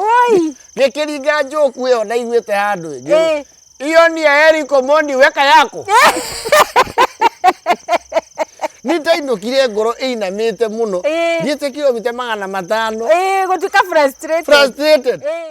Woi. Gĩkĩringa njoku ĩyo ndaiguĩte handũ ĩngĩ. Eh. Hiyo ni ya Eric Omondi weka yako. Nitainũkire ngoro ĩinamĩte mũno. Eh. Thiĩte kilomita magana matano. Eh, gũtuĩka frustrated. Frustrated. Eh.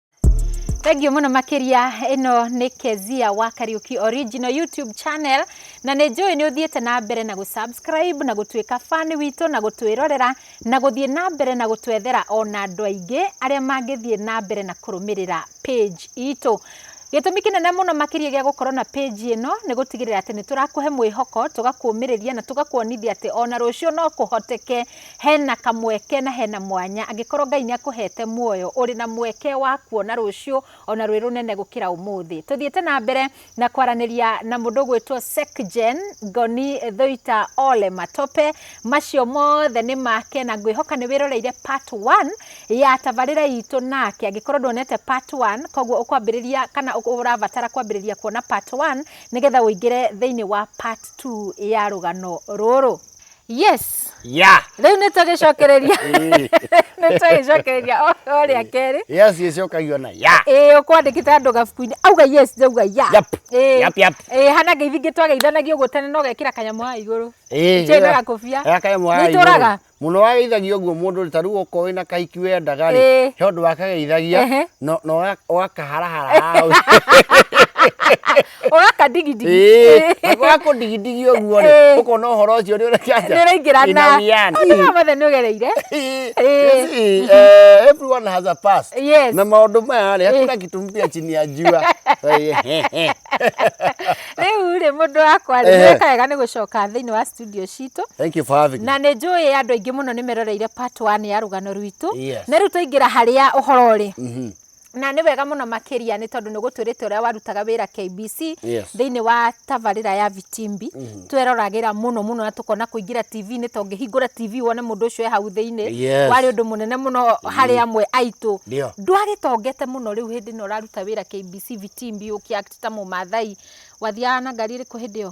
Thengiũ mũno makĩria ĩno nĩ Kezia wa Kariuki Original YouTube channel na nĩ njũĩ nĩ ũthiĩte na mbere na gũsubscribe na gũtuĩka fan witũ na gũtwĩrorera na gũthiĩ na mbere na gũtwethera ona andũ aingĩ arĩa mangĩthiĩ na mbere na kũrũmĩrĩra page itũ. Gĩtũmi kĩnene mũno makĩria gĩa gũkorwo na page ĩno nĩ gũtigĩrĩra atĩ nĩ tũrakũhe mwĩhoko, tũgakũmĩrĩria na tũgakuonithia atĩ ona rũciũ no kũhoteke Hena kamweke na hena mwanya angĩkorwo Ngai nĩ akũhete muoyo ũrĩ na mweke wa kuona rũciũ ona rwĩ rũnene gũkĩra ũmũthĩ. Tũthiĩte na mbere na kwaranĩria na mũndũ ũgwĩtwo Sekjen Ngoni Thoita Ole Matope. Macio mothe nĩ make na ngwĩhoka nĩ wĩroreire part one ya tabarĩra itũ nake. Angĩkorwo ndwonete part one koguo ũkwambĩrĩria kana ũrabatara kwambĩrĩria kuona part one nĩgetha ũingĩre thĩinĩ wa part two ya rũgano rũrũ. yes ya rĩu nĩ tũgĩcokereria nĩ tũgĩcokereria o o rĩa kerĩ yes ĩcokagio na ya ĩĩ ũkwandĩkĩte andũ gabuku-inĩ auga yes njauga ya Yap. Ĩĩ. Yap, yap. Ĩĩ, hana ngeithĩ ingĩ twageithanagio ũguo tene no gekĩra kanyamũ haha igũrũ Ĩĩ, Nĩkĩĩ ĩyo- na gakũbia? ĩyo kanyamũ haha igũrũ. Nĩitũraga? mũno wageithagia ũguo mũndũ rĩ, ta rĩu okorwo wĩna kahiki wendaga rĩ Ĩĩ. he ũndũ wakageithagia Ehe. no- no ũga- ũgakaharahara hau ũgaka digidigi Eh, na gwakå ndigindigi å guo rä Eh. å kona å horo å cio nä å nä ũraingĩra na Ina mothe nĩ ũgereire Eh. everyone has a past Yes. na maundu maya rä hakuna kitu mpya chini ya jua rĩu rĩ mũndũ wakwa rĩ Ehe. nĩweka wega nĩ gũcoka thĩinĩ wa studio citũ thank you for having me na nĩ njũĩ andũ aingĩ mũno nĩ meroreire part one ya rũgano rwitũ Yes. na rĩu twaingĩra harĩa ũhoro rĩ Mhm. na nĩ wega mũno makĩria nĩ tondũ nĩ ũgũtwĩrĩte ũrĩa warutaga wĩra KBC yes. thĩinĩ wa tabarĩra ya Vitimbi mm -hmm. tweroragĩra mũno mũno na tũkona kũingĩra TV-inĩ to ngĩhingũra TV wone mũndũ ũcio e hau thĩinĩ yes. warĩ ũndũ mũnene mũno mm -hmm. harĩ amwe aitũ ndwagĩtongete mũno rĩu hĩndĩ ĩno ũraruta wĩra KBC Vitimbi ũkĩakta mũmathai wathiaga na ngari ĩrĩkũ hĩndĩ ĩyo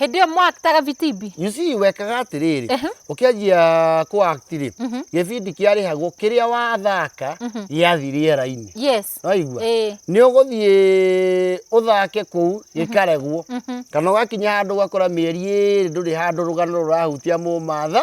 hĩndĩ ĩyo mwaktaga vitimbi You see, wekaga atĩrĩrĩ Ehe. ũkĩanjia kũ act rĩ Mhm. gĩbindi kĩarĩhagwo kĩrĩa wathaka gĩathiĩ rĩera-inĩ yes waigua Eh. nĩ ũgũthiĩ ũthake kũu gĩkaregwo Mhm. kana ũgakinya handũ ũgakora mĩeri ĩrĩ ndũrĩ handũ rũgano rũrahutia mũmatha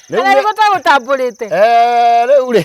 kana nĩ gũtagũtambũrĩte Eh, rĩu rĩ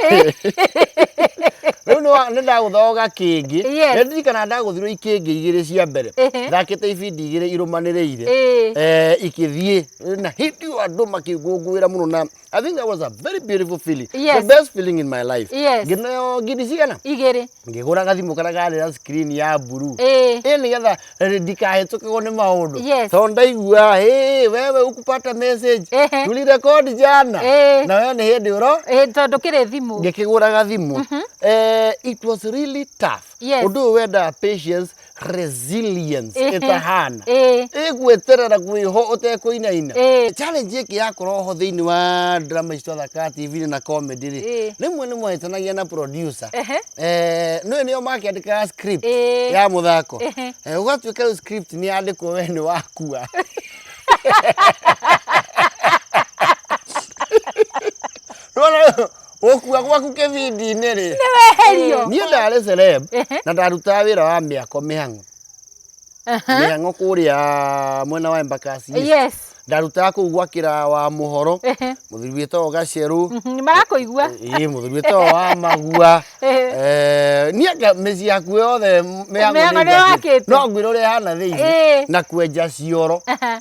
rĩu nĩ- nĩ ndagũthoga kĩngĩ Yes. nĩ ndirikana ndagũthirwo ikĩngĩ igĩrĩ cia mbere Ehe. thakĩte ibindi igĩrĩ irũmanĩrĩire Ĩĩ. Eh, ikĩthiĩ na hĩndĩ ĩyo andũ makĩngũngũĩra mũno na i think that was a very beautiful feeling Yes. the best feeling in my life Yes. ngĩneo ngindi cigana igĩrĩ ngĩgũra gathimũ karĩa karĩ na screen ya blue Eh. ĩ nĩgetha eh, ndikahĩtũkagwo nĩ maũndũ Yes. tondũ ndaiguaga "Hey, wewe ukupata message Ehe. tulirekodi jana Eh. na wewe nĩ hĩndĩ ũro Ĩ, tondũ kĩrĩ thimũ ngĩkĩgũra gathimũ eh, it was really tough Yes. ũndũ ũyũ wendaga patience resilience Ehe. ĩtahana Ĩĩ. ĩgweterera gwĩho ũtekũinaina Ĩĩ. challenge ĩkĩ yakorwo ho thĩinĩ wa drama icio thaka tv na comedy rĩ Ĩĩ. rĩmwe nĩ mwahĩtanagia na producer Ehe. Eh, nĩwe nĩo makĩandĩkaga script Ĩĩ. ya mũthako Ehe. Eh, ũgatuĩka rĩu script nĩ yandĩkwo we nĩ wakua Nĩwona rĩu, Gũkua gwaku kĩbindi-inĩ rĩ. Nĩ weherio. Niĩ ndarĩ celeb Ehe. na ndarutaga wĩra wa mĩako mĩhang'o. Aha. Mĩhang'o kũrĩa mwena wa Embakasi. Yes. Ndarutaga kũu gwakĩra wa mũhoro. Ehe. Mũthuri wĩtagwo Gacerũ. Mhm, nĩ marakũigua Ĩĩ mũthuri wĩtagwo wa magua. Ehe. Eh, niĩ nga- mĩciĩ yaku yothe mĩhang'o Mĩhang'o nĩ nĩyakĩte. wakĩte. No ngwĩra ũrĩa ĩhana thĩinĩ Ĩĩ. na kwenja cioro. Aha.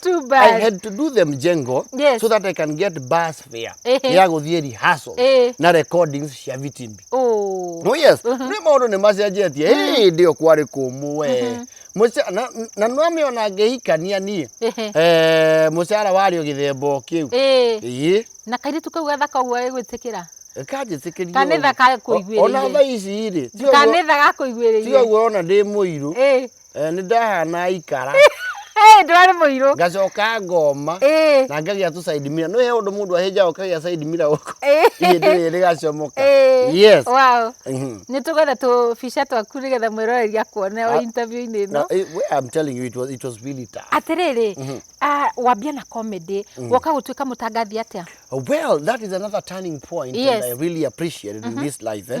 Too I bad. had to do the mjengo Yes. so that I can get bus fare Ehe. ya gũthiĩ rehearsal Eh. na recordings cia vitimbi Oh. no yes nĩ maũndũ nĩ macenjetie Hĩ, ndĩ o kwarĩ kũmũ we Mũca- na- na nĩwamĩona ngĩhikania niĩ Ehe. Eh, mũcara warĩ o gĩthemba o kĩu Eh. ĩĩ Na kairĩtu kau gathaka ũguo gagĩgwĩtĩkĩra. kanjĩtĩkĩria Kanitha ũguo. gakũiguĩrĩire. O- ona thaa ici rĩ ti ũguo- Kanitha ti gakũiguĩrĩire. ũguo ona ndĩ mũirũ Eh. Eh, nĩ ndahana ikara Hey, ndwarĩ mũirũ ngacoka ngoma Ĩĩ. na ngagĩa tũ side mirror nĩ he ũndũ mũndũ ahĩnjaga ũkagĩa side mirror gũkũ Ĩĩ. ihĩndĩ rĩrĩ rĩgacomoka Ĩĩ. yes Wow. Mhm. nĩ tũgwetha tũbica twaku nĩgetha mwĩroreria kuone o Ah. interview-inĩ ĩno No, eh, well, I'm telling you, it was, it was really tough. atĩrĩrĩ ah, wambia na comedy woka gũtuĩka mũtangathi atĩa Well, that is another turning point Yes. and I really appreciate it in this life. Eh?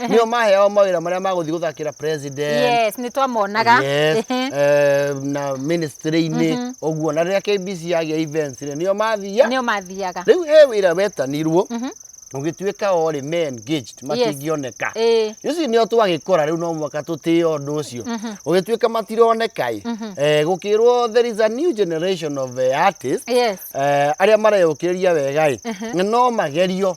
nĩo maheao mawĩra marĩa magũthiĩ gũthakĩra president yes nĩ twamonaga yes, Ehe. eh, na ministry-inĩ ũguo na rĩrĩa KBC yagĩa events rĩ nĩo mathiaga nĩo mathiaga rĩu he wĩra wetanirwo ũgĩtuĩka orĩ me engaged matingĩoneka Ĩĩ. ici nĩo twagĩkora rĩu no mwaka tũtĩe ũndũ ũcio ũgĩtuĩka matironeka ĩ eh, gũkĩrwo there is a new generation of eh, artists yes eh, arĩa mareyũkĩrĩria wega ĩ no magerio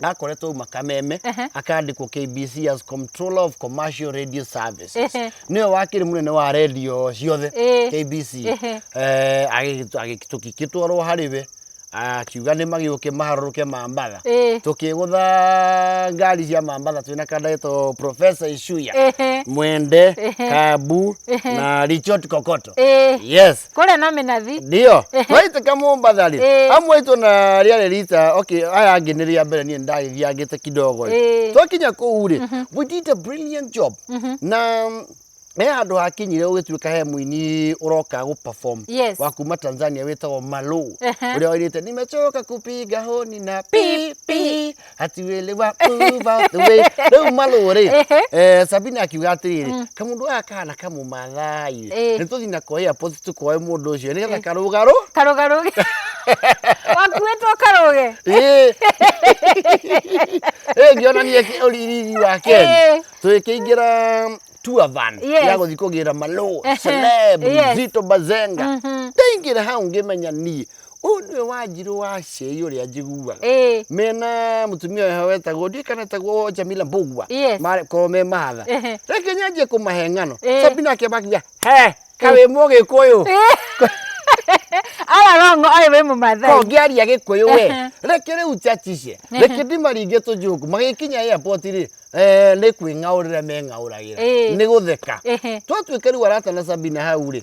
gakoretwo uma kameme akandikwo KBC as Controller of Commercial Radio Services Ehe. niwe wakiri munene wa radio ciothe Eh. KBC Ehe. eh agĩgĩtu- agĩgĩ- tũkĩgĩtwarwo harĩ we akiuga nĩ magĩũke maharũrũke mambatha Eh. tũkĩgũtha ngari cia mambatha twĩna kanda getwo Professor Ishuya Ehe. Mwende Ehe. Kabu Ehe. na Richard Kokoto Eh. yes kũrĩa na mĩnathi ndio twaitĩka Mombasa rĩ Eh. amwe aitũ na rĩarĩ rita okay aya angĩ nĩ rĩa mbere niĩ ndagĩthiangĩte kidogo rĩ Eh. twakinya kũu rĩ we did a brilliant job na mm, he handũ hakinyire ũgĩtuĩka he mũini ũroka gũ perform Yes. wa kuma Tanzania wĩtagwo Malo Ehe. ũrĩa wairĩte nimechoka kupiga honi na pi pi ati wĩlĩ wa uva the way rĩu malũ rĩ Ehe. eh, sabina akiuga atĩrĩrĩ kamũndũ gaka kana kamũmathai Eh. nĩ tũthi na koya post tũkoe mũndũ ũcio nĩgetha karũgarũ karũgarũge wakuĩtwo karũge Ĩĩ. Ĩĩ, ngĩonanie kĩ- ũriri wa Ĩĩ. Ken tũgĩkĩingĩra tour van Yes. ya gũthiĩ kũgĩra malũ Ehe. celeb Yes. zito bazenga ndaingĩra hau ngĩmenya niĩ ũyũ nĩwe wanjirũ wa cei ũrĩa njiguaga Ĩĩ. mena mũtumia ũyũ wetagwo ndiũĩ kana etagwo Jamila Mbugua Yes. makorwo me mahatha Ehe. reke nyanjie kũmahe ng'ano Ĩĩ. Sabina akĩamba akiuga he kawĩ mũgĩkũyũ ararongo ayo we mumathai kongĩaria gĩkũyũ we Ehe. reke rĩu njacice reke ndimaringe tũnjũngũ magĩkinya airport rĩ eh, nĩ kwĩng'aũrĩra meng'aũragĩra Ĩĩ. nĩ gũtheka Ehe. twatuĩka rĩu arata na Sabina hau rĩ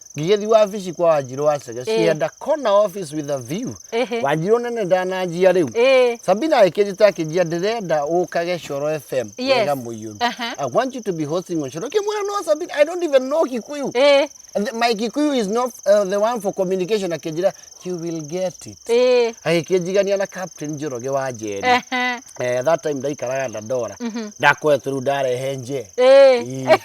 ngĩgĩthiĩ wabici kwa wanjirũ wa cege she had a corner office with a view Ehe. wanjirũ nene ndananjia rĩu Ĩĩ. sabina akĩnjĩta akĩnjia ndĩrenda ũkage coro fm Yes. wega mũiyũru Aha. i want you to be hosting on coro kĩmwĩra no sabina i don't even know kikuyu Ĩĩ. The- my kikuyu is not uh, the one for communication akĩnjĩra you will get it Ĩĩ. agĩkĩnjigania na captain njoroge wa njeri Ehe. eh, that time ndaikaraga ndandora ndakoetwo rĩu ndarehe nje Ĩĩ. Ii.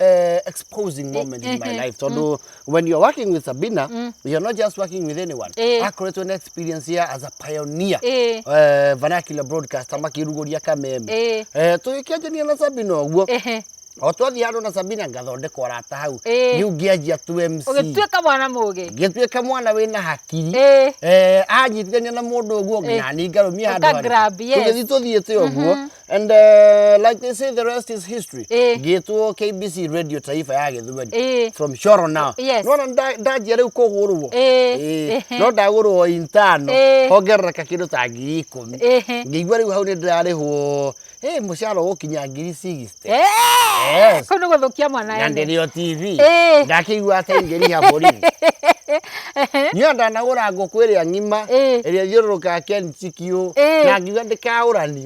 uh, exposing moment in my life tondå when you're working with Sabina you're not just working with anyone Eh. akoretwo na experience ya as a pioneer Eh. uh, vernacular broadcaster makĩrugũria kameme Eh. Eh, tũgĩkĩanjania na Sabina ũguo Ehe. o twathiĩ handũ na Sabina ngathondekwo rata hau Eh. rĩu ngĩanjia tu MC ũgĩtuĩka mwana mũgĩ ngĩtuĩka mwana wĩna hakiri Eh. eh, anyitithania na mũndũ ũguo nginya nĩ ngarũmia handũ Ũka harĩa. grab, yes. tũgĩthiĩ tũthiĩte ũguo And uh, like they say, the rest is history. Eh. Gĩtwo KBC Radio Taifa ya Gĩthweri. Eh. From Shoro now. Yes. Nona nda- ndanjia rĩu kũgũrwo. Eh. Eh. Eh. No ndagũrwo intano. Eh. Hongerereka kĩndũ ta ngiri ikũmi. Eh. Ngĩigua rĩu hau nĩ ndĩrarĩhwo. Eh, mũcara ũgũkinya ngiri 60. Eh, Yes. kau nĩ gũthũkia mwana Na ene. ndĩrĩo TV. Eh. Ndakĩigua atĩ ingĩriha bũrĩri. Niĩ ndanagũra ngũkũ ĩrĩa ng'ima. Eh. Ĩrĩa thiũrũrũkaga Ken Chikiũ. Eh. Na ngiuga ndĩkaũrani.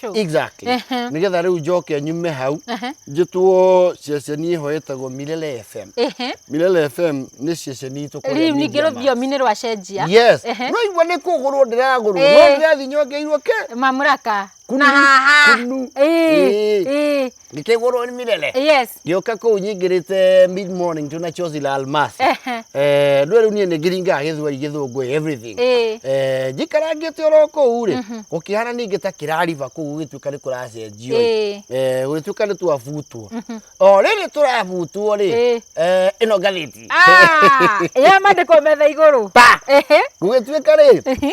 True. exactly Ehe. nigetha riu njoke nyume hau Ehe. njitwo ceceni iho yetagwo milele fm Ehe. milele fm ni ceceni itu kũrĩa Rĩu ningĩ Media Max. rũthiomi-inĩ rwa cenjia. yes Ehe. no igua nĩ kũgũrwo ndĩragũrwo Eh. no ndĩrathi nyongeirwo ke Mamũraka. Kunu, Na haha. kunu. Ĩĩ, Eh. ĩĩ. ngĩkĩgũrwo nĩ mĩrere yes ngĩũka kũu nyingĩrĩte mid morning tu na chozi la almasi Ehe. Eh, ndwe rĩu niĩ nĩ ngĩringaga gĩthweri gĩthũngũ everything Ĩĩ. Eh, njikarangĩte oro kũu rĩ gũkĩhana ningĩ ta kĩrariba kũu gũgĩtuĩka nĩ kũracenjio Ĩĩ. Eh, gũgĩtuĩka nĩ twabutwo o rĩrĩ tũrabutwo rĩ Ĩĩ. eh, ĩno ngathĩti Ah, ya mandĩkwo metha igũrũ Pa! Ehe. gũgĩtuĩka rĩ Ehe.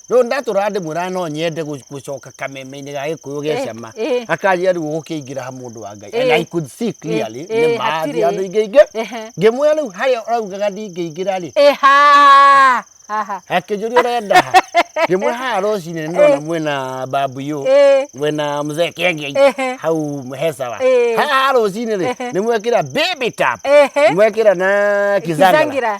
Rĩu ndatũraga ndĩmwĩraga no nyende gũ- gũcoka kameme-inĩ ga gĩkũyũ gĩa Eh, cama eh. akanjĩra rĩu ũgũkĩingĩra ha mũndũ wa ngai and Eh. i could see clearly Eh, eh, nĩ ma hatirĩ. thiĩ handũ ingĩingĩ Ehe. ngĩmwĩra rĩu harĩa ũraugaga ndingĩingĩra rĩ Eha! Aha. akĩnjũria ũrenda ha ngĩmwĩra haha rũcinĩ nĩ ndona mwĩna bambuyo Eh. mwĩna mzee Ehe. kenge hau hesawa Eh. haha rũcinĩ rĩ Ehe. nĩ mwekĩra baby tap Ehe. mwekĩra na Kizangira. kizangira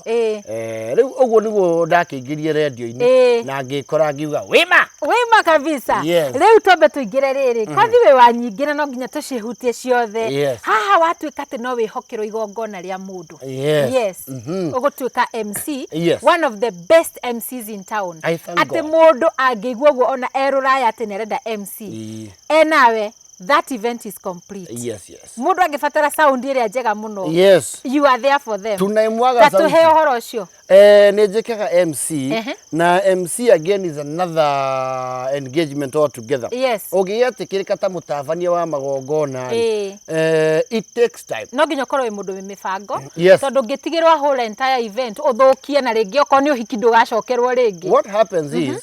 Ĩĩ. Eh, rĩu ũguo nĩguo ndakĩingĩrire rendio-inĩ Ĩĩ. na ngĩkora ngiuga wĩma wĩma kabisa Yes. rĩu twambe tũingĩre rĩrĩ kothi wĩ wa nyingĩ na no nginya tũcihutie ciothe Yes. haha watuĩka atĩ no wĩhokerwo igongona rĩa mũndũ Yes. yes. Mhm. ũgũtuĩka mc Yes. one of the best mcs in town I thank atĩ God. mũndũ angĩigua ũguo ona erũraya atĩ nĩ arenda mc Ĩĩ. enawe That event is complete. Yes, yes. Mũndũ angĩbatara sound ĩrĩa njega mũno. Yes. You are there for them. Tunaimwaga sauti. Tatuhe ũhoro ũcio. Eh, nĩ njĩkaga MC uh -huh. na MC again is another engagement altogether. Yes. Ũngĩgĩatĩkĩrĩka ta mũtabania wa magongona eh. eh, it takes time. No nginya ũkorwo wĩ mũndũ wĩ mĩbango. Yes. Tondũ ngĩtigĩrwo ahũre entire event ũthũkie na rĩngĩ okorwo nĩ ũhiki ndũgacokerwo rĩngĩ. What happens mm -hmm. is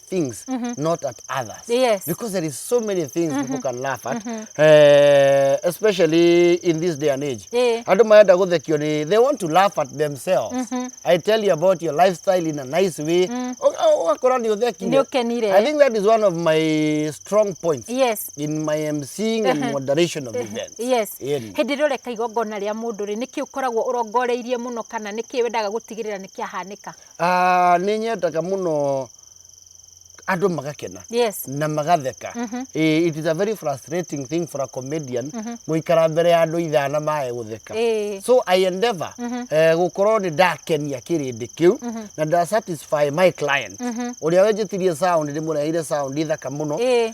things not at others Yes. because there is so many things people can laugh at eh, especially in this day and age Eh. andå marenda gå thekio nä they want to laugh at themselves i tell you about your lifestyle in a nice way ågakora nä å thekire Nĩũkenire. i think that is one of my strong points yes in my emceeing and moderation of events yes Ĩni. hĩndĩ ĩrĩa ũreka igongona rĩa mũndũ rĩ nĩkĩ ũkoragwo ũrongoreirie mũno kana nĩkĩ wendaga gũtigĩrĩra nĩkĩahanĩka Ah, nĩ nyendaga mũno andũ magakena Yes. na magatheka Eh, it is a very frustrating thing for a comedian gũikara mbere ya andũ ithana maye gũtheka Eh. so i endeavor eh, gũkorwo nĩ ndakenia kĩrĩndĩ kĩu na nda satisfy my client ũrĩa wenjĩtirie sound ndĩmũreheire sound thaka mũno Eh.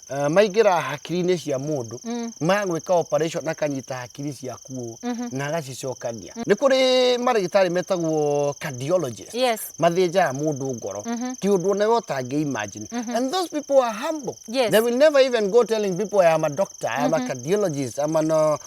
ah, maingĩra hakiri-inĩ cia mũndũ magwĩka operation akanyita hakiri ciaku ũũ na agacicokania nĩ kũrĩ marĩgĩtarĩ metagwo cardiologist Yes. mathĩnjaga mũndũ ngoro ti ũndũ ona we ũtangĩ imagine and those people are humble Yes. they will never even go telling people I am a doctor I am a cardiologist I am an uh,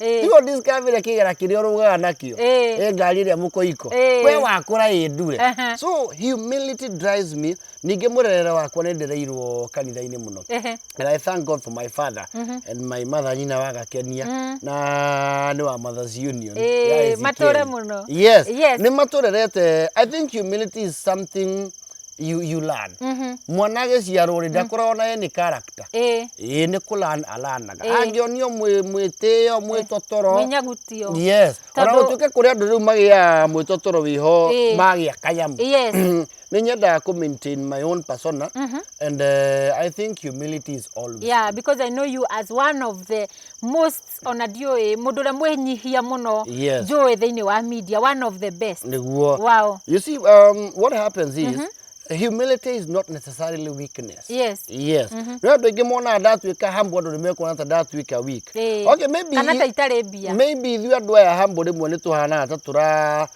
Ĩĩ. tigo discovery kĩgera kĩrĩa ũrũgaga nakĩo Ĩĩ. ĩ ngari ĩrĩa mũkoiko Ĩĩ. we wakũra ĩ ndure Ehe. so humility drives me ningĩ mũrerere wakwa nĩ ndereirwo kanitha-inĩ mũno Ehe. and I thank God for my father and my mother nyina wa gakenia na nĩ wa mothers union Ĩĩ, ya Ezekiel. matũre mũno. yes, Yes. nĩ matũrerete I think humility is something you, you learn mm -hmm. mwana agĩciarwo rĩ ndakoragwo naye nĩ character ĩ ĩ nĩ kũ learn alanaga angĩonio mwĩ mwĩtĩo mwĩtotoro mĩnyagutio yes ona gũtuĩke kũrĩ andũ rĩu magĩa mwĩtotoro wĩho magĩa kanyamu yes nĩ nyendaga kũ maintain my own persona mm -hmm. and uh, i think humility is always yeah because i know you as one of the most ona ndiũĩ mũndũ ũrĩa mwĩnyihia mũno Yes. njũĩ thĩinĩ wa media one of the best niguo Wow. you see um, what happens is humility is not necessarily weakness Yes. yes no andå aingä monaga ndatuä ka hambo andå nä mekuona ta ndatuä ka weak Ĩĩ. okay maybe kana ta itarĩ mbia maybe ithuĩ andå aya hambo rä mwe nä tå hanaga ta tå ra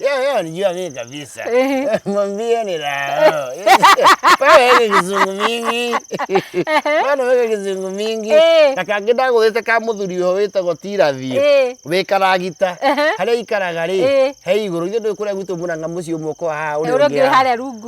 Yeye yeye anijua mimi kabisa. Ehe. Mwambie ni raha. Bana wewe kizungu mingi. Bana wewe kizungu mingi. Eh. Na kangi ndagwete ka muthuri ho witagwo Tirathi. Eh. Wĩ karagita. Ehe. Harĩa ikaraga rĩ, Eh. he igũrũ ithuĩ ndũĩ kũrĩa gwitũ mũranga mũciĩ ũmwe ũkoragwo haha ũrĩa ũrĩa ũngĩ ũngĩ wĩ haha. harĩa rungu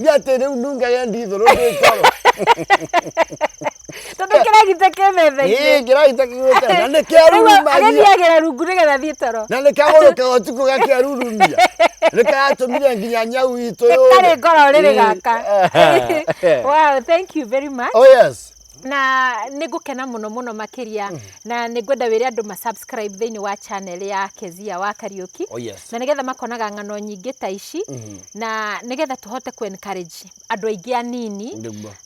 Niĩ atĩ rĩu nunge yendi thũrũ ndĩ ngoro. Tondũ kĩragita kĩ metha-inĩ. Ĩĩ kĩragita kĩgwĩte na nĩ kĩa Rĩu rurumagia. agĩthiagĩra rungu nĩgetha athiĩ toro. Na nĩ kagũrũkaga ũtukũ gakĩarurumia. Nĩ karatũmire nginya nyau itũ yũre. Karĩ ngoro rĩrĩ Ĩĩ. gaka. Wow, thank you very much. Oh yes. na nĩ ngũkena mũno mũno makĩria mm. na nĩ ngwenda wĩre andũ ma subscribe thĩinĩ wa channel ya Kezia wa Kariuki oh, yes. na nĩgetha makonaga ng'ano nyingĩ ta ici mm -hmm. na nĩgetha tũhote ku encourage andũ aingĩ anini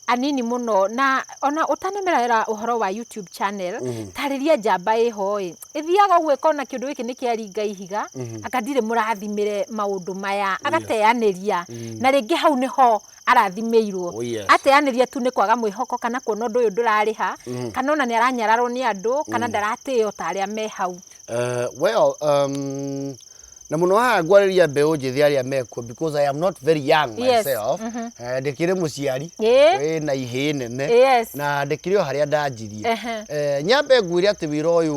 anini mũno na ona ũtanemerera ũhoro wa YouTube channel mm -hmm. tarĩria njamba ĩho ĩ ĩthiaga ũguo ĩkona kĩndũ gĩkĩ nĩ kĩaringa ihiga mm -hmm. anga ndirĩ mũrathimĩre maũndũ maya agateyanĩria mm -hmm. na rĩngĩ hau nĩho arathimĩirwo. Oh, yes. Ateanĩria tu nĩ kwaga mwĩhoko kana kuona ũndũ ũyũ ndũrarĩha mm. kana ona nĩ aranyararwo nĩ andũ kana mm. ndaratĩo ta arĩa me hau. Uh, well, um, na muno haha ngwarĩria mbeũ njĩthĩ arĩa mekuo because I am not very young myself mm -hmm. uh, ndĩkĩrĩ mũciari wĩ na ihĩ nene yes. na ndĩkĩrĩ o harĩa ndanjirie uh -huh. uh, nyambe ngwĩre atĩ wĩra ũyũ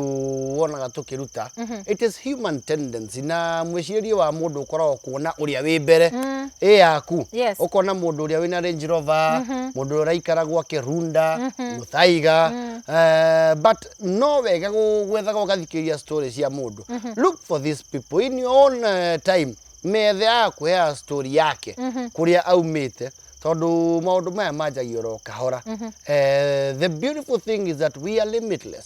wonaga tũkĩruta mm -hmm. it is human tendency na mwĩcirĩrie wa mũndũ ũkoragwo kuona ũrĩa wĩ mbere mm. ĩ yaku yes. ũkona mũndũ ũrĩa wĩna Range Rover mm -hmm. mũndũ ũrĩa ũraikara gwake Runda mm -hmm. Muthaiga mm. uh, but no wega gwethaga ũgathikĩrĩria story cia mũndũ mm -hmm. look for these people in your own uh, time methe ya kuhea story yake mm -hmm. kuria aumite tondu maundu maya manjagio ro kahora mm -hmm. uh, the beautiful thing is that we are limitless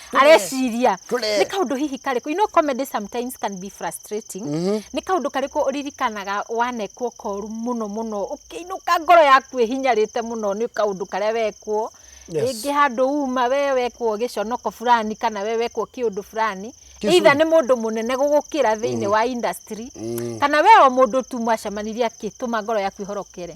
areciria Tũre. nĩ kaũndũ hihi karĩkũ you know comedy sometimes can be frustrating nĩ kaũndũ karĩkũ ũririkanaga wanekwo koru mũno mũno ũkĩinũka ngoro yaku ĩhinyarĩte mũno nĩ kaũndũ karĩa wekwo Yes. rĩngĩ handũ uma we wekwo gĩconoko fulani kana we wekwo kĩũndũ fulani Kĩcũrũ. either nĩ mũndũ mũnene gũgũkĩra thĩinĩ wa industry kana we o mũndũ tu mwacemanirie akĩtũma ngoro yaku ĩhorokere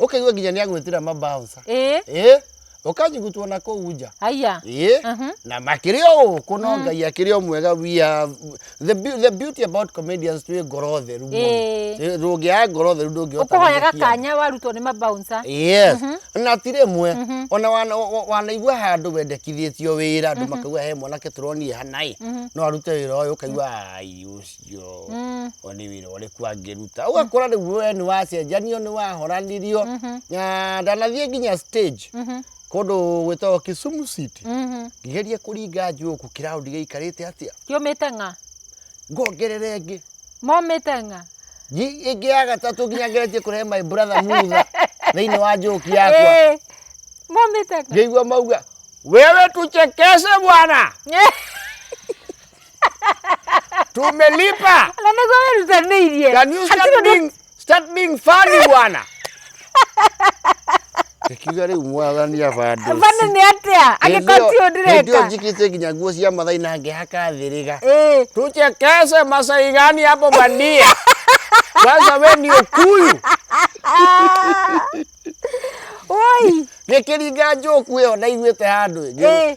ũkĩigua nginya nĩ agwĩtira mabaũca ĩĩ ĩ ũkanyugutwo na kũu nja aya ĩ Mhm. na makĩrĩ o gũkũ no ngai akĩrĩ o mwega we are the, beau- the beauty about comedians twĩ ngoro theru mũno. Ĩĩ. Ĩ, ndũngĩaga ngoro theru ndũngĩhota ũkũhoyaga gũthekia andũ. kanya warutwo nĩ mabaunsa yes na ti rĩmwe ona wana- wa- wa- wanaigua handũ wendekithĩtio wĩra andũ makauga he mwanake tũronire hanaĩ no arute wĩra ũyũ ũkaigua ai ũcio ũtũkio Mm. o nĩ wĩra ũrĩkũ angĩruta ũgakora rĩu we nĩ wacenjanio nĩ wahoranirio Mhm. na ndanathiĩ nginya stage Mhm. kũndũ gwĩtagwo Kisumu City Mhm. ngĩgeria kũringa njũkũ kĩraũndi gĩikarĩte atĩa Kiumĩte ng'a. ngongerere ĩngĩ Momĩte ng'a. Ngi- ĩngĩ ya gatatũ nginya ngeretie kũrehe my brother mutha thĩinĩ wa njũki yakwa Eh, Momĩte ng'a. ngĩigua mauga wewe tuchekeshe bwana tumelipa Na niguo werutanĩirie. Can you start Hatirĩ ũndũ- being, start being funny bwana? Ikiuga rĩu mwathani abande. Bana nĩ atĩa? Angĩkorwo ti ũndũ Ndio ndĩreka. njikite nginya nguo cia mathai na ngĩhaka thĩrĩga. Eh, Tuchekeshe masai gani hapo bandia? Sasa we ni ukuyu. woi. Gĩkĩringa njoku ĩyo ndaiguĩte handũ ĩngĩ. Eh.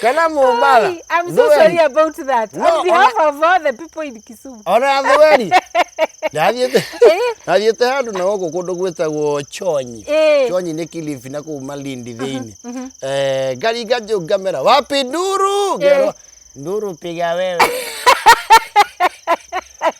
kana mũmbara Ai, I'm so Thweri. sorry about that. No, On behalf of all the people in Kisumu. ona thweri ndathiĩte ndathiĩte handũ na gũkũ kũndũ gwĩtagwo chonyi Eh. chonyi nĩ kilifi na kũu malindi thĩinĩ Eh, ngari nganjũ ngamera wapi nduru ngerwo nduru piga wewe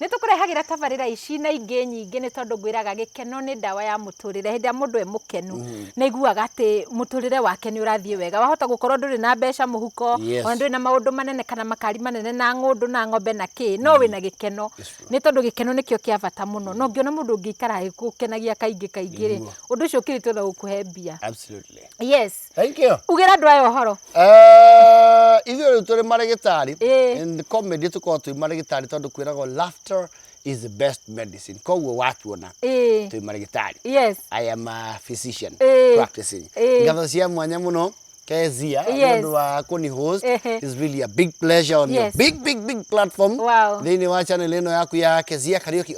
Nĩ tũkũrehagĩra tabarĩra ici na ingĩ nyingĩ nĩ tondũ ngwĩraga gĩkeno nĩ ndawa ya mũtũrĩre. Hĩndĩ ĩrĩa mũndũ e mũkenu mm. nĩ aiguaga atĩ mũtũrĩre wake nĩ ũrathiĩ wega. Wahota gũkorwo ndũrĩ na mbeca mũhuko, yes. ona ndũrĩ na maũndũ manene kana makari manene na ng'ũndũ na ng'ombe na kĩ, no mm. wĩ na gĩkeno. Nĩ tondũ gĩkeno nĩkĩo kĩa bata mũno. No ngĩona mũndũ ũngĩikara gũkenagia kaingĩ kaingĩ rĩ, ũndũ ũcio ũkĩrĩtwo na gũkũhe mbia. Yes. Thank you. Ugĩra andũ aya ũhoro. Eh, ithuĩ rĩu tũrĩ marĩgĩtarĩ. Eh. In comedy tũkoragwo twĩ marĩgĩtarĩ tondũ kwĩragwo laughter is the best medicine. Koguo watuona eh. twĩ marĩgĩtarĩ. Yes. I am a physician eh. practicing. Eh. Ngatho cia mwanya mũno. Kezia, yes. ndu wa kuni host is really a big pleasure on yes. your big big big platform. Wow. Thini wa channel ino yaku ya Kezia Karaoke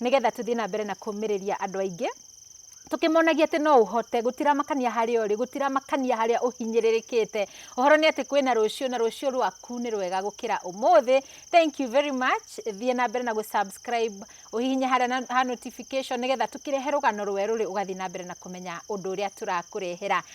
nĩgetha tũthiĩ na mbere na kũmĩrĩria andũ aingĩ, tũkĩmonagia atĩ no ũhote, gũtiramakania harĩa ũrĩ, gũtiramakania harĩa ũhinyĩrĩrĩkĩte, ũhoro nĩ atĩ kwĩna rũciũ na rũciũ rwaku nĩ rwega gũkĩra ũmũthĩ. Thank you very much, thiĩ na mbere na gũ subscribe, ũhihinye harĩa na ha notification nĩgetha tũkĩrehe rũgano rwerũ-rĩ, ũgathiĩ na mbere na kũmenya ũndũ ũrĩa tũrakũrehera.